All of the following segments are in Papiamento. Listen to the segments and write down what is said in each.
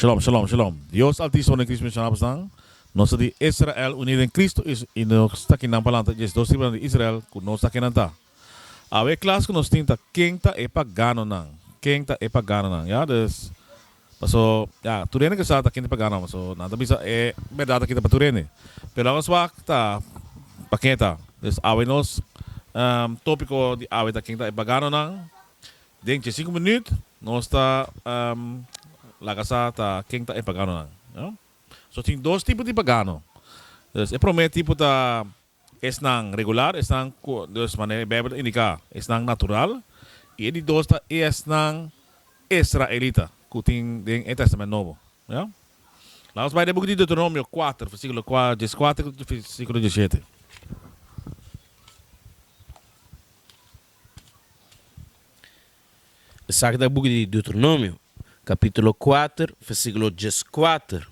Shalom shalom shalom Dios Altiso den Cristo Mision Haber Stan nos ta di Israel uni den Cristo is y nos ta kinan palanta dje dos tribunan di Israel cu nos ta kinan ta Awe e clas cu nos tin ta ken ta e pagano nan ken ta e pagano nan ya dus paso ya tur hende ke sa ta ken ta e pagano nan paso nan ta bisa e berdad aki ta pa tur hende pero aos wak ta pa ke ta dus awe nos topico di awe ta ken ta e pagano nan. Den dje sinku minüt nos ta laga sa ta ken ta e paganonan. So tin dos tipo di pagano. E promé tipo ta esnan regular, esnan ku dus manera e Beibel ta indiká, esnan natural, i e di dos ta esnan israelita ku tin den e Tèstamènt Nobo. Lanos bai den e buki di Deuteronomio kuater, versíkulo dieskuater ku versíkulo dieshete. Esaki ta buki di Deuteronomio, capitulo kuater, versiculo dieskuater,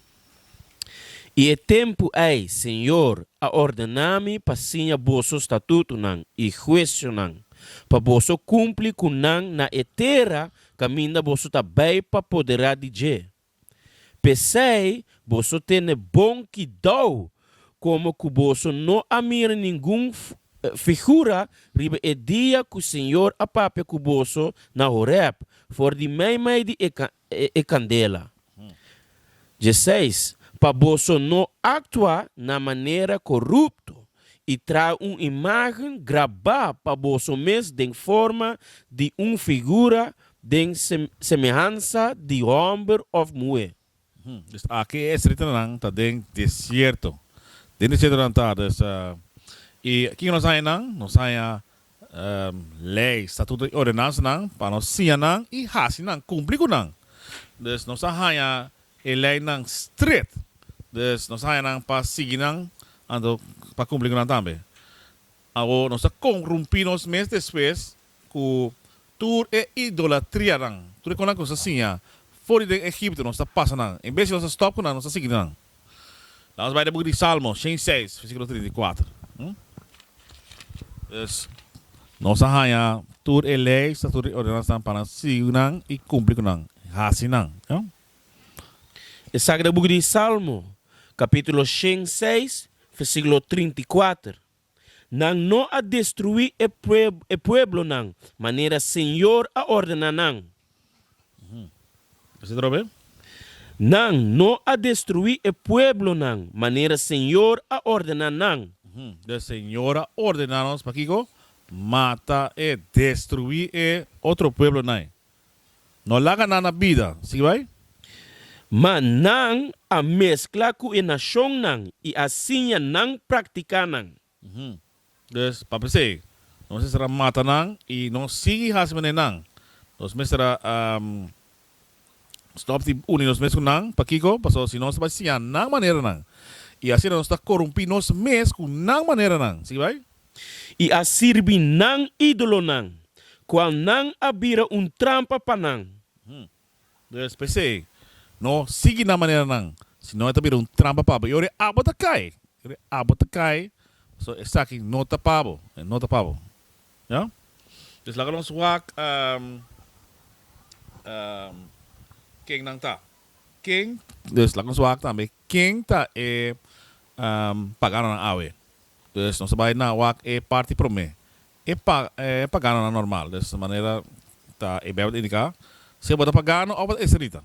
I e tempu ei Señor a ordena mi pa siña boso statutunan i huesionan, pa boso cumpli cu nan na e tera caminda boso ta bai pa poderá di dje, P'esei boso tene bon kidou komo ku boso no a mira ningun figura riba e dia ku Señor a papia ku boso na Horeb for di meimei di e kandela. Djeseis, pa boso no aktua na manera korupto i traha un imágen grabá pa boso mes den forma di un figura den semehansa di hòmber òf muhé. Pues aki e estritanan ta den desierto. Den desierto nan ta, dus, i kin nos haña nan? Nos haña lei, statuto i ordenansanan pa nos siña nan i hasi nan kumpli ku nan. Dus nos a haña e leinan stret, dus nos a haña nan pa sigui nan anto pa kumpli ku nan tambe. Awo nos ta korumpí nos mes despues ku tur e idolatrianan, tur e kosnan ku nos a siña for di den Egipto nos ta pasa nan. En bes di nos ta stòp ku nan, nos ta sigui nan. La'ns bai na buki di Salmo, shen i seis, versíkulo trinta i kuater. Pues, nos a haña tur e lei, statutonan i ordenansanan pa nan sigui nan i kumpli ku nan, hasi nan. Esaki ta buki di Salmo, kapítulo shen i seis, versíkulo trinta i kuater. Nan no a destruí e e pueblonan manera señor a ordená nan. Nan no a destruí e pueblonan manera señor a ordená nan. Den señor a ordená nos pa kiko? Mata e, destruí e otro pueblonai. No laga nan na bida. Sigui bai. Ma nan a meskla ku e nashonnan i a siña nan praktiká nan. Des, pa p'esei, nos mester a mata nan i no sigui hasi manera nan. Nos mester a stòp di uni nos mes ku nan. Pakiko? Pasobra si nos ta bai siña nan maneranan, i asina nos ta korumpí nos mes ku nan maneranan. Sigui bai. i a sirbi nan idolonan, kual nan a bira un trampa pa nan. Pues p'esei, no sigui nan maneranan, sinon e ta bira un trampa pa bo, i ora e abo ta kai, i ora e abo ta kai, so esaki no ta pa bo, e no ta pa bo. Ya? Pues laga nos wak ken nan ta, ken, pues laga nos wak tambe Ken ta e paganonan awe? Dus nos a bai na wak e parti promé. E paganonan normal, dus manera ta e Beibel ta indiká, si bo ta pagano òf bo ta israelita.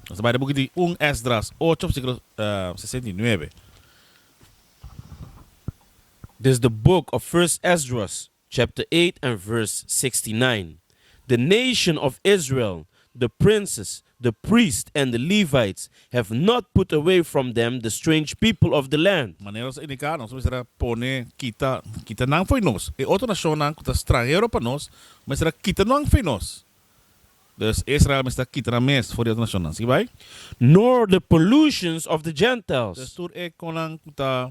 Nos a bai na buki di un Esdras ocho versíkulo sesenta i nuebe. This is the book of First Esdras, chapter 8 and verse 69, The nation of Israel, the princes, the priests, and the Levites, have not put away from them the strange people of the land. Manera nos a indiká, nos mester a pone kita kita nan for nos. E otro nashonnan ku ta stranhero pa nos mester a kita nan for nos. Dus, Israel mester a kita nan mes for di otro nashonnan. Sigui bai. Nor the pollutions of the Gentiles. Dus tur e konnan ku ta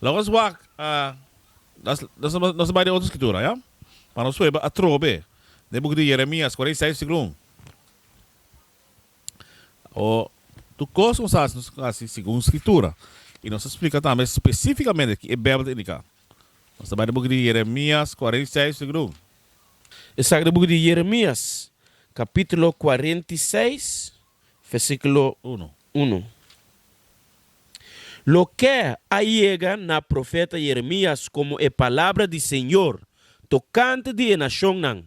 La nos wak nos a bai den otro skitura, ya. Pa nos weba atrobe den buki di Jeremias kwarenta i seis siklo un. O tur kos ku nos a hasi, nos a hasi segun skitura. I nos a splika tambe spesifikamente ke e Beibel ta indiká. Nos ta bai den buki di Jeremias kwarenta i seis siklo un. Esaki ta buki di Jeremias, kapítulo kwarenta i seis, Versículo uno. Uno. Loke a yega na profeta Jeremías komo e palabra di Señor tokante di e nashonnan.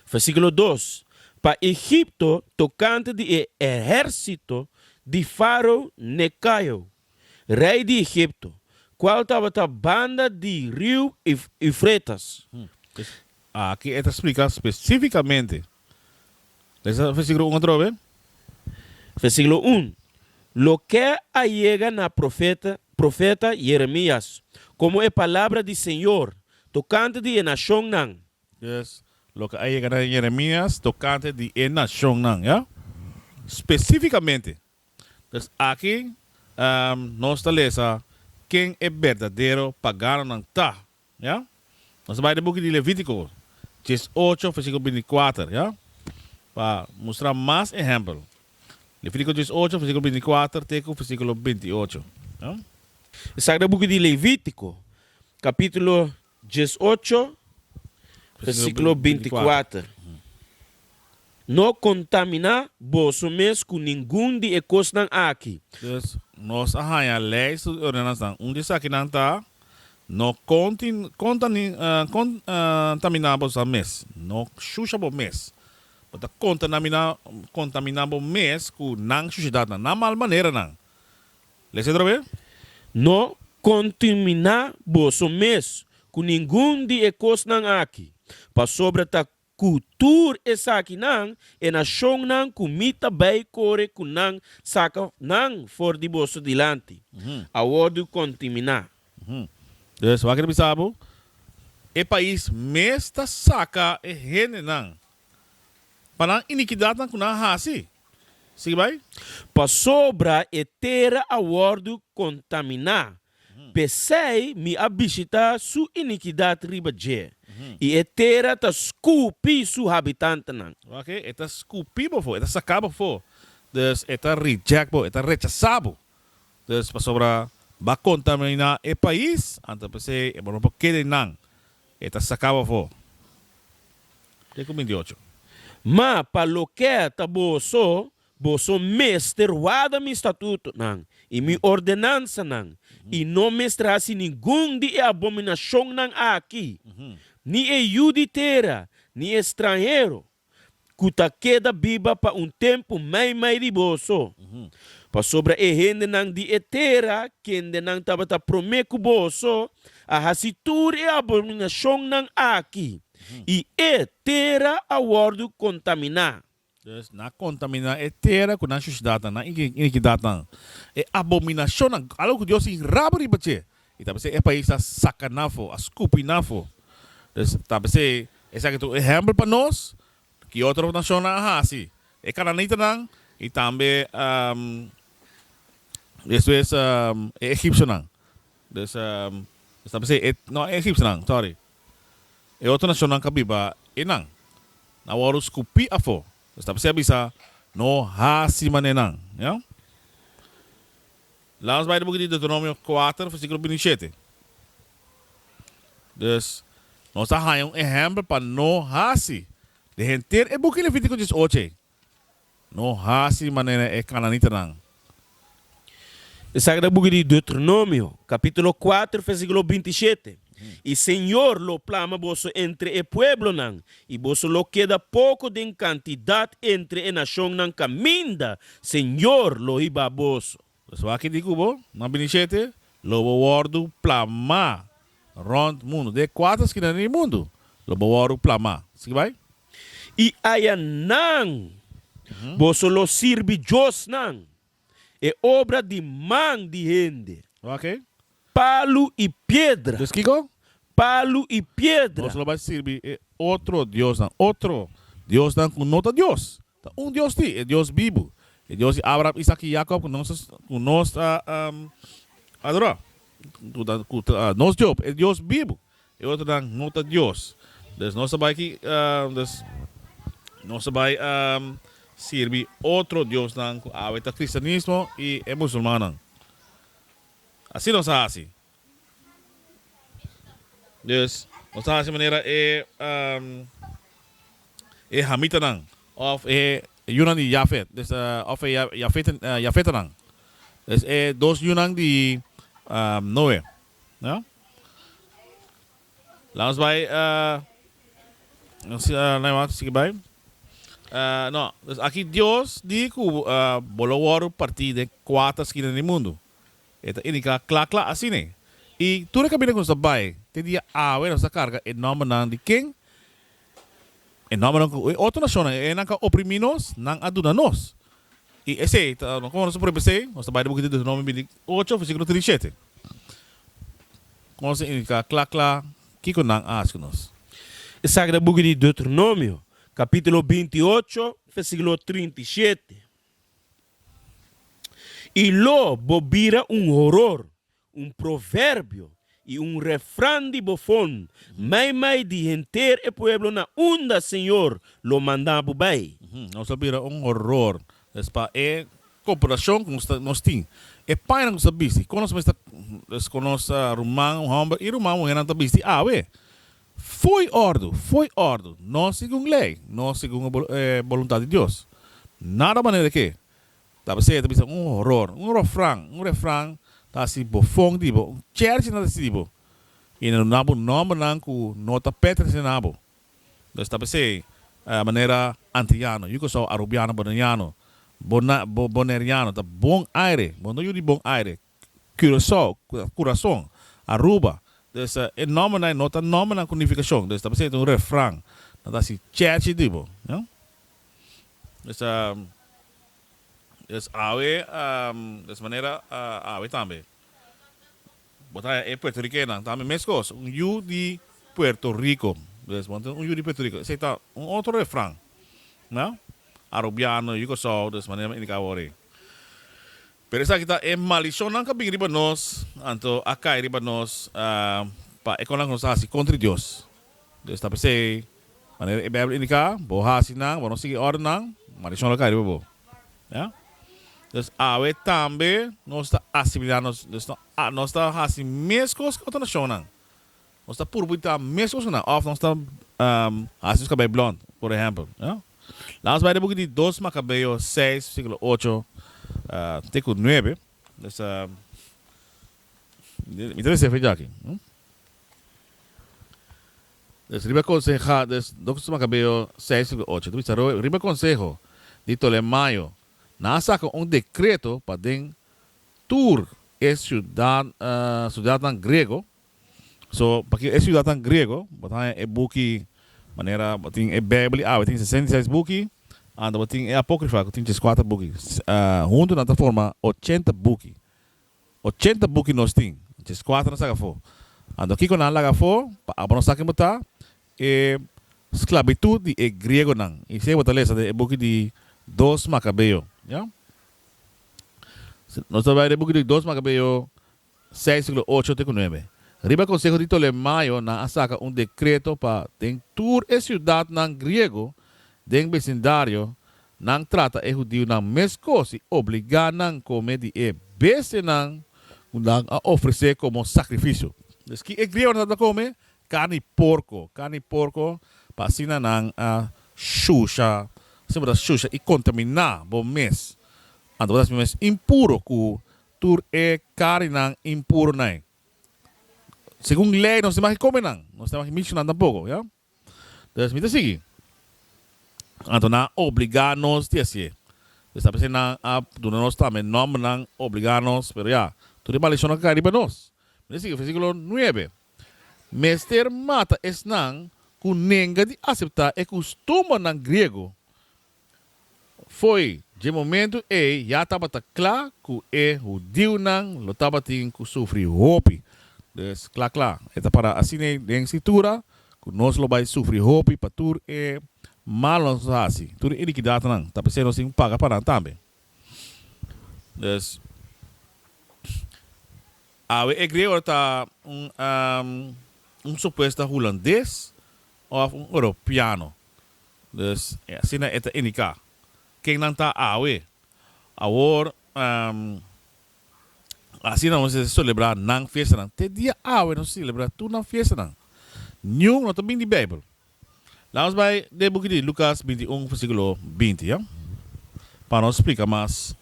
Versículo dos. Pa Egipto tokante di e ehérsito di Faro Nekao, rei di Egipto, kual tabata banda di riu Eufretas. Aki e ta splika spesífikamente Lesa versikulo un atrobe. Versikulo un, Loke a yega na profeta profeta Jeremias, komo e palabra di Señor tokante di e nashonnan. Yes, loke a yega na Jeremias tokante di e nashonnan, ya. Spesífikamente, Pues aki nos ta lesa ken e berdadero paganonan ta. Ya? Nos ta bai den buki di Levítiko, djes ocho, versikel binticuater, ya? pa mustra mas ehèmpel. Levítiko djes ocho, versikel binticuater te ku versikulo bintiocho. Esaki ta buki di Levítiko, kapítulo Diesocho, versikulo binti kuater, No kontaminá boso mes ku ningun di e kosnan aki. Pues, nos a haña lèister di ordenansanan. Un di esakinan ta, No kontaminá boso mes. No shusha bo mes. Bo ta kontaminá bo mes ku nan shushidatnan, nan mal maneranan. Lesa otra be. No contiminá boso mes cu ningun di e cosnan aki, pasobra ta cu tur esakinan e nacionnan cu mi ta bay core cu nan saca nan for di boso dilanti, a wordu contiminá. Pues, wak e ta bisa bo? E pais mes ta saca e hendenan pa nan inikidatnan ku nan a hasi. Sigui bai. Pasobra e tera a wòrdu kontaminá, p'esei mi a bishitá su inikidat riba dje, i e tera ta skupi su habitantnan. Wak-e, e ta skupi bo afó, e ta saká bo afó, dus e ta rijèkt bo, e ta rechasá bo. Dus pasobra bo a kontaminá e pais, anto p'esei e bo no por keda einan. E ta sakaba afó den ku binti ocho. Ma pa loke ta boso, boso mester warda mi statutonan i mi ordenansanan, i no mester hasi ningun di e abominashonnan aki, ni e yu di tera, ni e stranhero, ku ta keda biba pa un tempu mei mei riboso, pasobra e hendenan di e tera kende nan tabata promé ku boso a hasi tur e abominashonnan aki, i e tera a wòrdu kontaminá. Pues, nan a kontaminá e tera ku nan shushidatnan, nan inikidatnan, e abominashonnan, algu ku Dios tin rabia riba dje, I ta p'esei e pais ta saka nan afo, a skupi nan afo. Dus ta p'esei esaki ta un ehèmpel pa nos ki otro nashonnan a hasi. E kananitanan i tambe esto es e egipsionan. Dus nos ta p'esei, no e egipsionan, sòri, e otro nashonnan ku a biba einan, nan a wòrdu skupi afo. Dus ta p'esei a bisa, No hasi manera nan. Laas bai di boki di Deuteronomio kuater versíkulo binti shete. Dus, nos ta haña un ehèmpel pa no hasi den henter e buki Levítiko dies ocho ei. No hasi manera e kananitanan. Esaki ta boki di Deuteronomio, kapítulo kuater, versíkulo binti shete. I Señor lo plama boso entre e pueblonan, i boso lo keda poko den kantidat entre e nashonnan kaminda Señor lo hiba boso. Pues wak di ku bo no a bini shete, lo bo wòrdu plamá rònt mundu, den e kuater skina di e mundu lo bo wòrdu plamá. Sigui bai. I ayanan boso lo sirbi diosnan. E obra di man di hende. Oke. Palu i piedra. Des kiko? Palu i piedra. Nos lo bai sirbi e otro diosnan. Otro diosnan ku no ta Dios. Ta un Dios ti, e Dios bibu. E Dios di Abraham, Isak i Yakob ku nos ku nos ta adorá. Ku ta ku ta nos Job. E Dios bibu. E otronan no ta Dios. Dor nos ta bai ki, dor nos ta bai sirbi otro diosnan ku awe ta kristianismo i e musulmannan. Asi nos a hasi. Dus nos ta hasi manera e e hamitanan òf e yunan di Jafet, dus òf e jafetanan. Dus e dos yunan di Noe. Ja. Laat ons bai. Laat ons sigui bai. No, dus aki Dios di ku bo lo wòrdu partí den kuater skina di e mundu. E ta indiká kla kla asina. I tur e kaminda ku nos ta bai te dia awe nos ta karga e nòmbernan di ken? E nòmbernan ku e otro nashonnan e nan ka oprimí nos, nan a duna nos. I esei ta kòmo nos ta prueba esei? Nos ta bai di buki di Deuteronomio bini ocho versikulo trinta i shete ku nos ta indiká kla kla kiko nan a hasi ku nos. Esaki ta buki di Deuteronomio kapítulo binti i ocho versikulo trinta i shete, I lo bo bira un horor Un proverbio i un refran di bofon mai mai di henter e pueblo na unda Señor lo manda bo bai. Nos ta bira un horor pa e copulacion cu nos tin. E payanan cu ta bisti con nos mester es con nos ruman homber i ruman muhernan ta bisti awe. Fo'i ordu, fo'i ordu, no segun ley, no segun e voluntad di Dios. Nada manera di ke. Ta p'esei e ta bisa, un horor. Un rofran, un refran, ta hasi bo fon di bo. Un cherchi na ta hasi di bo. I na duna bo nòmbernan ku no ta pètrese na bo. Entonces ta p'esei a manera antiyano, yu kosou arubiano, boneiano, bo, bo, boneriano, ta bon aire. Bo no yu di bon aire. Curaçao, Kurazon, Aruba. Dus e nòmbernan no ta nòmbernan ku nifikashon. Dus ta pasobra e ta un refran. Nan ta hasi chèchi di bo. Dus a dus awe a dus manera a awe tambe. Bo ta haña e puertorikennan tambe meskos, un yu di Puerto Riko. Dus bo tin un yu di Puerto Riko. Esei ta un otro refran. Arubiano, Yukosaw, dus manera mi a indika aworí. Pero esaki ta e malishon nan ka bin riba nos, anto a kai riba nos pa e konan ku nos a hasi kontra di Dios. Dios ta p'esei, manera e Beibel indiká, bo hasi nan, bo no sigui e órdennan, malishon lo kai riba bo. Ya? Entonces, awe tambe nos ta asimilá nos, nos ta hasi meskos ku otro nashonnan. Nos ta purba ta mes cosona of nos ta haci nos cabei blond, por ehempel. Laga nos bai den buki di dos Macabeo seis versiculo ocho te cu nuebe. Mi ta mester fija aki. Nos riba conseha, dos Macabeo seis versiculo ocho ta bisa, riba conseho di Ptolemaio nan a saca un decreto pa den tur e ciudadnan grego So, p'aki e siudatnan griego, bo ta haña e buki manera bo tin e Beibel awe tin sesenta i seis buki, anda bo tin e Apókrifa ku tin djes kuater buki. Huntu nan ta forma ochenta buki. Ochenta buki nos tin, djes kuater nan saca afó. Anto kiko nan a laga afó? Pa abo no sa ken bo ta, e sklabitut di e griegonan. I esei bo ta lesa den e buki di Dos Makabeo. Nos ta bai den e buki di Dos Makabeo, Seis siglo ocho te ku nuebe. Riba konseho di Tolemayo nan a saka un dekreto pa den tur e siudatnan griego den besindario nan trata e hudiunan meskos i obligá nan kome di e bestianan ku nan a ofresé komo sakrifisio. Pues ki e griegonan tabata kome? Karni porko. Karni porko pa asina nan a shusha, asin bo ta shusha i kontaminá bo mes. Anto bo ta hasi bo mes impuro ku tur e karinan impuronan. Segun lei nos no magi kome nan, nos no magi mishi nan tampoko, ya. Pues mi ta sigui. Anto nan a obliga nos di hasié. Esaki ta p'esei nan a duna nos tambe nòmbernan, obliga nos, pero ya, tur e maldision a kai riba nos. Mi ta sigui versikulo nuebe, Mester mata esnan ku nenga di aseptá e kustumbernan griego Fo'i dje momentu ei ya tabata kla ku e hudiunan lo tabatin ku sufri hopi. Pues, kla kla, e ta para asin'ei den Skritura ku nos lo bai sufri hopi pa tur e mal nos a hasi, tur e inikidatnan, ta p'esei nos tin paga pa nan tambe. Pues, awe e griego ta un un supuesta hulandes òf un europiano. Dus, e asina e ta indiká ken nan ta awe. Awor, asina nos a selebrá nan fiestanan. Te dia awe nos a selebrá tur nan fiestanan. Niun no ta bin di Beibel. Laga nos bai den e buki di Lukas binti un, versíkulo binti, pa nos splika mas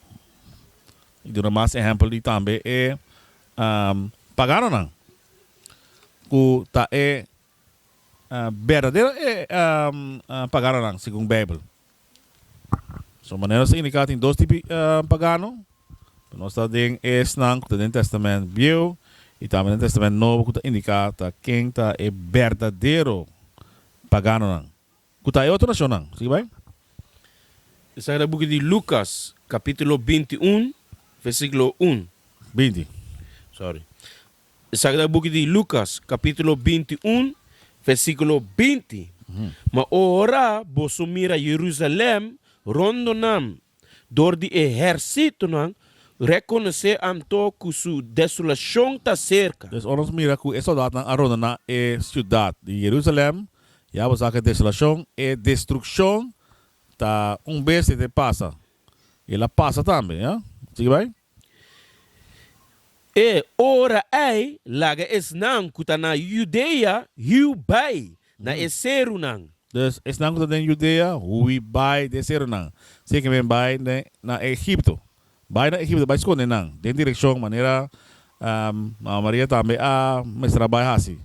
i duna mas ehèmpel di tambe e paganonan ku ta e berdadero e paganonan segun Beibel? Su manera nos ta indiká tin dos tipo pagano. Nos ta den esnan ku ta den Tèstamènt Bieu i tambe den Tèstamènt Nobo ku ta indiká ta ken ta e berdadero paganonan ku ta e otro nashonnan. Sigui bai. Di sa ta buki di Lukas kapítulo binti un, vèrsikulo un. Binti. Sòri. Sagrado Buki di Lucas, capítulo binti un, versículo binti, Ma ora boso mira Jerusalem rondo nan dor di e hersitonan, reconocé anto cu su desolacion ta cerca. Des ora nos mira cu e soldatnan a rondona e ciudad di Jerusalem, ya bo sa cu e desolacion, e destruccion ta un bes e te pasa. El a pasa tambe. Sigui bai. E ora ei laga esnan ku ta na Yudea hui bai na e serunan. Dus, esnan ku ta den Yudea hui bai den e serunan, seken men bai na Egipto. Bai na Egipto bai skonde nan den direkshon manera mama Maria tambe a mestra bai hasi.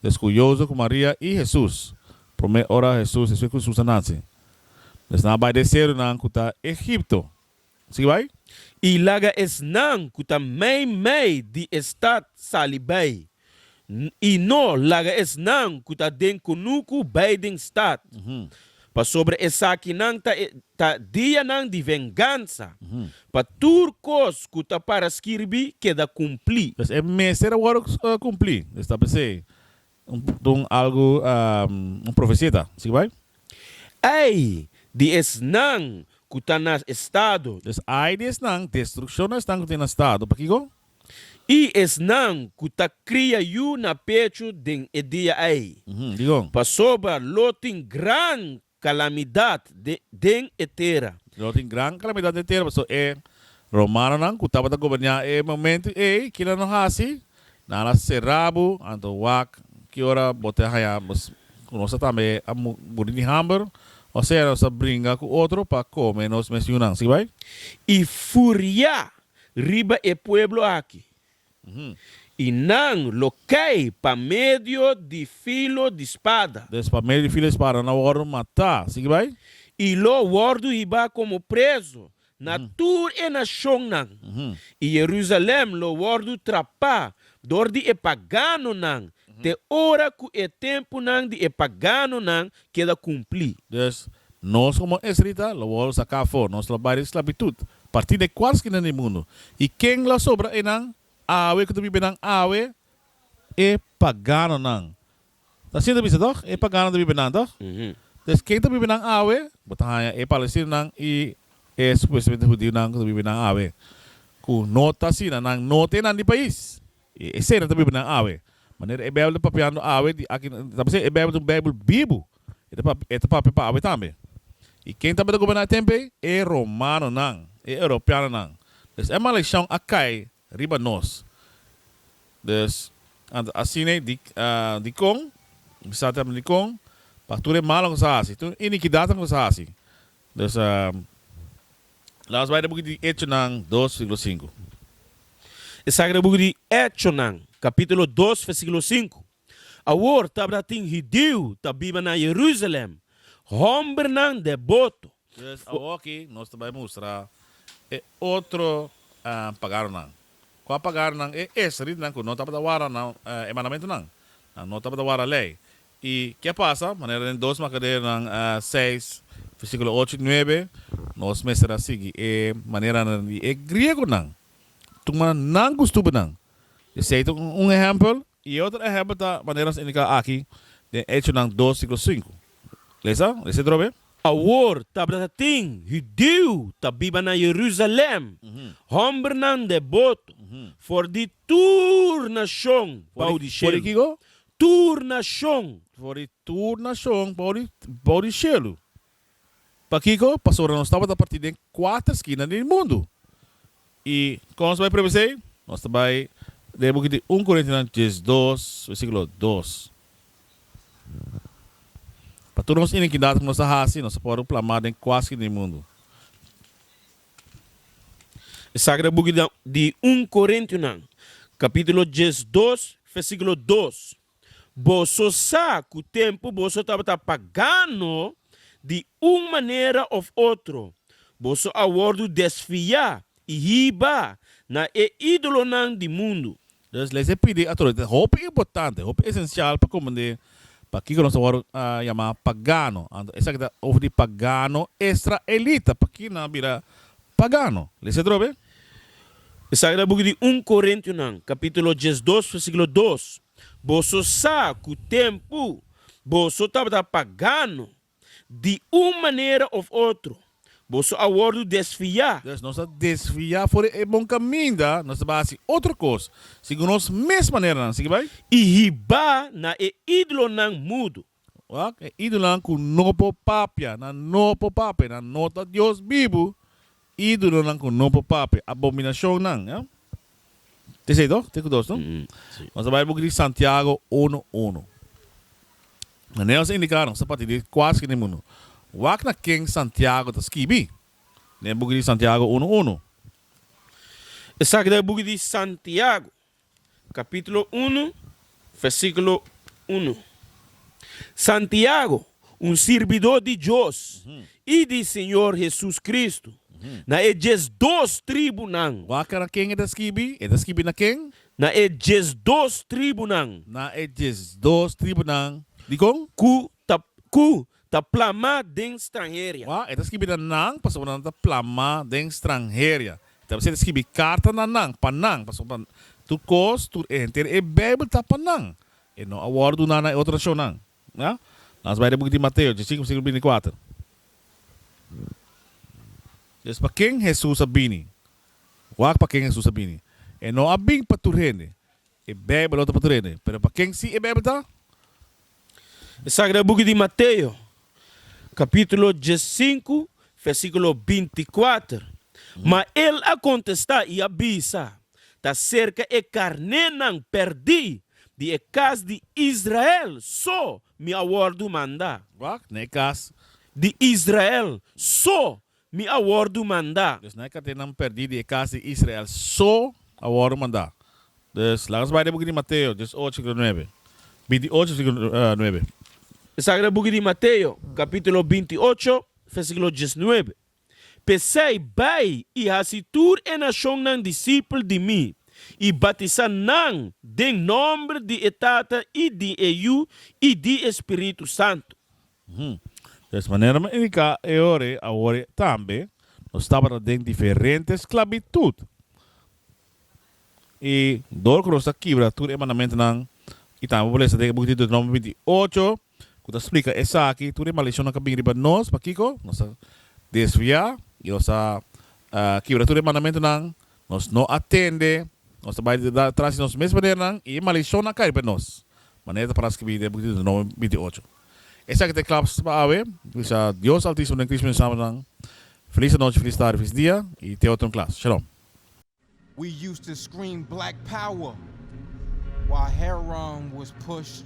Dus ku Jozef ku Maria i Hesus, promé ora Hesus esei ku Susa nase, esnan a bai den e serunan ku ta Egipto. Sibai, i laga esnan ku ta mei mei di e stat sali bai, N i no laga esnan ku ta den kunuku bai den stat, pasobra esakinan ta e ta dianan di vengansa, pa tur kos ku ta para skirbi keda kumplí. Pues e mester a wòrdu kumplí. Establisé Dun algu un profesia ta. Sigui bai. Ai di esnan ku ta na estado. Dus ai di esnan, destrukshon na esnan ku ta na estado. Pakico? I esnan ku ta kria yu na pechu den e dia ai. Dicon? Pasobra lo tin gran Kalamidat den e tera. Lo tin gran kalamidat den e tera, pasobra e romanonan ku tabata goberná e momentu ei, kila nan hasi? Nan a será bo, anto wak ki ora bo ta haña nos ku nos ta tambe a muri di hamber, o sea, nos a bringa ku otro pa kome nos mes yunan. Sigui bai. I furiá riba e pueblo aki, I nan lo kai pa medio di filo di spada. Des pa medio di filo di spada nan wòrdu matá. Sigui bai. I lo wòrdu hibá komo prezu na tur e nashonnan, i Jerusalèm lo wòrdu trapá dor di e paganonan te ora ku e tempunan di e paganonan keda kumplí. Dus, nos komo esrita lo wòl saká afó nos lo bai di sklabitut, partí n'e kual skina di mundu. I ken lo a sobra einan? Awe ku ta biba einan awe? E paganonan. Ta asina ta bisa tòg? E paganonan ta biba einan tòg? Dus, ken ta biba einan awe? Bo ta haña e palestinonan i e supuestamente hudionan ku ta biba einan awe, ku no ta asina. Nan no ta einan di pais. E esena ta bibanan awe. Manera e Beibel ta papiando awe di aki nan ta pasa, e Beibel ta un Beibel bibu. E ta papia, e ta papia pa awe tambe. I ken tabata goberná e tempu ei? E romanonan, e europeanonan. Dus e malekshon a kai riba nos. Dus, anto asin'ei di, dikon? Bisat'e a habra dikon? Pa tur e malnan ku sa hasi, tur inikidatnan ku sa hasi. Nos a Laat ons bai na buki di Echonan dos, versíkulo sinku. E sa ke na buki di Echonan, kapítulo dos, versíkulo sinku, Awor tabratin hidiu ta biba na Jerusalem, hòmbernan dè boto. Pues, awoki nos ta bai mustra e otro paganonan. Kua paganonan? E esrelitanan ku no tabata wara nan e mandamentunan, nan no tabata wara lei. I ke a pasa? Manera den dos Makaderonan seis, versíkulo ocho i nuebe, nos mester a sigui e maneranan di e griegonan. Tuma nan ku stúpidonan. Esei ta un ehèmpel, i e otro ehèmpel ta maneras indiká aki den Hechonan dos, siko sinku. Lesa e sentro abé. Awor tabata ta tin hudío ta biba na Yerusalèm, hòmbernan deboto for di tur nashon bou di shelu. tur nashon. For di tur nashon bou di bou di shelu. Pakiko? Pasobra nos tabata partí den kuater skina di e mundu. I kon nos ta bai prevesá ei? Nos ta bai den e buki di Un Korintianan diesdos, versíkulo dos. Pa tur nos inikidat ku nos a hasi, nos a por rumplama den kua skina di e mundu. E Sagrado Buki di un Korintiunan, kapítulo djes dos, versíkulo dos, Boso sa ku tempu boso tabata pagano di un manera òf otro, boso a wòrdu desfiá i hiba na e ídolonan di mundu, Dòs leynan pidi outoridat hopi importante, hopi esensial pa komprendé pakiko nos ta wòrdu yamá pagano. Anto esaki ta over di pagano estraelita. Pakiko nan a bira pagano? Lesa e drobe. Esaki ta buki di un Korintiunan kapítulo diesdos versíkulo dos, Boso sa ku tempu boso tabata pagano Di un manera of otro, boso a wordo desviá. Pues nos ta desviá for di e bon kaminda, nos ta bai hasi otro kos, sigun nos mes maneranan. Sigui bai. I hiba na e ídolonan mudu. Wak, e ídolonan ku no por papia, nan no por papia, nan no ta Dios bibu. Idolonan ku no por papia, abominashonnan. Ya? Te esei to? Te ku dos no? Nos ta bai buki di Santiago unu unu. Manera nos a indiká nos ta parti di e kual skirtu den mundu. Wak na ken Santiago ta skibi den e buki di Santiago unu unu. Esaki ta e buki di Santiago. Capítulo unu, versículo unu. Santiago, un sirbidó di Dios i di Señor Jesus Cristo, na e diesdos tribunan. Wak na ken e ta skibi? E ta skibi na ken? Na e diesdos tribunan. Na e diesdos tribunan. Dikon? Ku ta, ku ta plamá den stranheria. Wou, e ta skibi na nan pasobra nan ta plamá den stranheria. E ta basiá di skibi karta na nan, pa nan, pasobra tur kos, tur e henter, e Beibel ta pa nan. E no a wòrdu duná na e otro nashonnan. Mira, lans bai den buki di Mateo, chapter sinku, versíkulo binti kuater. Pues, pa ken Hesus a bini? Wak pa ken Hesus a bini. E no a bin pa tur hende. E Bijbel lo ta por trene, pero pa ken si e Bijbel ta? E sagrado buki di Mateo, kapítulo diesinku, versíkulo binti kuater, Ma el a kontestá i a bisa, Ta serka e karnénan pèrdí di e kas di Israel so mi a wòrdu mandá. Wak, na e kas. Di Israel so Mi a wòrdu mandá. Dus na e katenan pèrdí di e kas di Israel so a wòrdu mandá. Dus, laga nos bai den e buki di Mateo diezoocho versíkulo nuebe, binti ocho versíkulo nuebe. Esaki ta buki di Mateo, kapítulo binti ocho, versíkulo dies nuebe, P'esei, bai i hasi tur e nashonnan disipel di mi, i batisá nan den nòmber di e Tata i di e Yu i di e Spiritu Santu. Hm. Des manera mi indiká e ore awor tambe, nos tabata den diferente sklabitut. I dor ku nos ta kibra tur e mandamentunan, i tambe por lesa den e buki Deuteronomio binti i ocho, ku ta splika esaki, tur e maldicionnan ku a bin riba nos, pa kiko? Nos ta desviá i nos ta kibra tur e mandamentunan. Nos no a tende, nos ta bai tras di nos mes panernan i e maldicionnan a cai pa nos, manera ta para scribi den Boek di Deuteronomio binti ocho. Esaki ta e claves pa awe, Glisa Dios Altisimo den Cristo mi hermanonan. Feliz anochi, feliz tardi, feliz dia i te otro un klas. Shalom. We used to scream black power while heroin was pushed.